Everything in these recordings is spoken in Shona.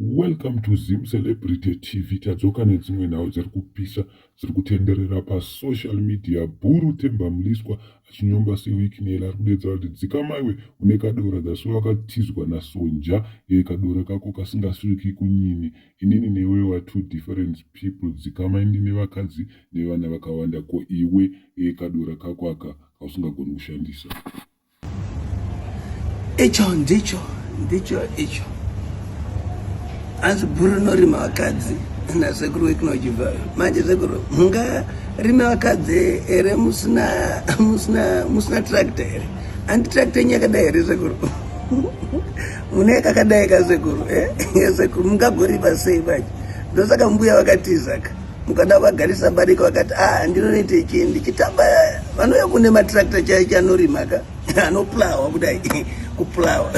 Welcome to Zim Celebrity TV tadzoka nedzimwe nhau dziri kupisa dziri kutenderera pasocial media bhuru Themba Mliswa achinyomba seweeknel ari kudedza kuti dzikamaiwe une kadora that's why wakatizwa nasonja e kadora kako kasingasviki kunyini inini newe wa two different people dzikamai ndine vakadzi nevana vakawanda ko iwe e kadora kako aka kausingagoni kushandisa icho ndicho ndicho icho hanzi bhuru rinorima vakadzi nasekuru wekunojibva manje sekuru mungarime vakadzi here musina musina musina tractor here handi tractor yenyu yakadai here sekuru mune kakadai kasekuru eh? sekuru mungagoripa sei manje ndosaka mbuya vakatizaka mukada vagarisa barika vakati a ah, ndinonoita ichi ndichitamba vanouya kune matrakta chai chanorima ka anoplawa kudai kuplawa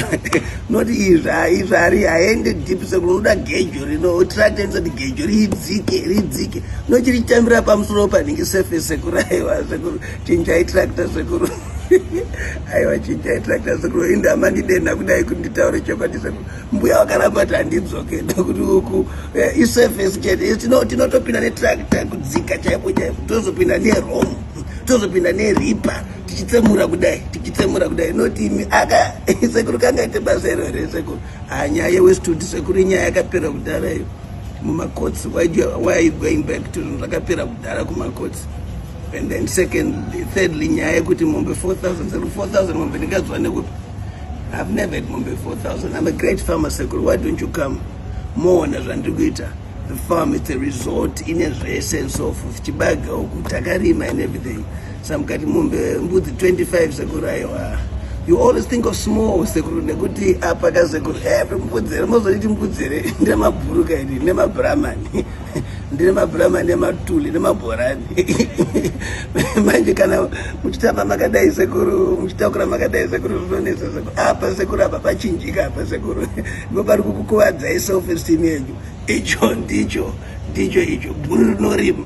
not izvaizvari haende deep sekuti unoda gejo rino trakta inosati gejo ridzike ridzike nochirichitambira pamusoro panenge sefe sekuru aiwa sekuru chinjai trakta sekuru aiwa chinjai trakta sekuru indamandidenha kudai kuti nditaure chokwadi sekuru mbuya vakaramba kuti handidzoke ndokuti uku eh, isurface chete tinotopinda netractor kudzika chaipo chaipo tozopinda neromo tozopinda neripa tichitsemura kudai tichitsemura kudai notimi aka sekuru kangaite basa iro here sekuru ah, nyaya yewestudi sekuru inyaya yakapera kudhara iyo mumakotsi why are you going back to zvakapera kudhara kumakotsi and then secondly thirdly nyaya yekuti mombe 4000 sekuru 4000 mombe ndingazwa nekupi I've never had mombe 4000. I'm a great farmer sekuru. Why don't you come? Moona zvandiri kuita. The farm is a resort ine zvese and so forth. Chibaga uku takarima and everything. Samkati mombe mbudzi 25 sekuru aiwa. You always think of small sekuru nekuti apa ka sekuru. Eh, mbudzi here mozoti mbudzi here. Ndemabhuruka iri, ndemabramani. ndine mabhurama nematuli nemabhorani manje kana muchitamba makadai sekuru muchitakura makadai sekuru zvinonetsa sekuru apa ah, sekuru apa pachinjika apa sekuru ivo pari kukukuvadzai self esteem yenyu icho ndicho ndicho icho bhuru rinorima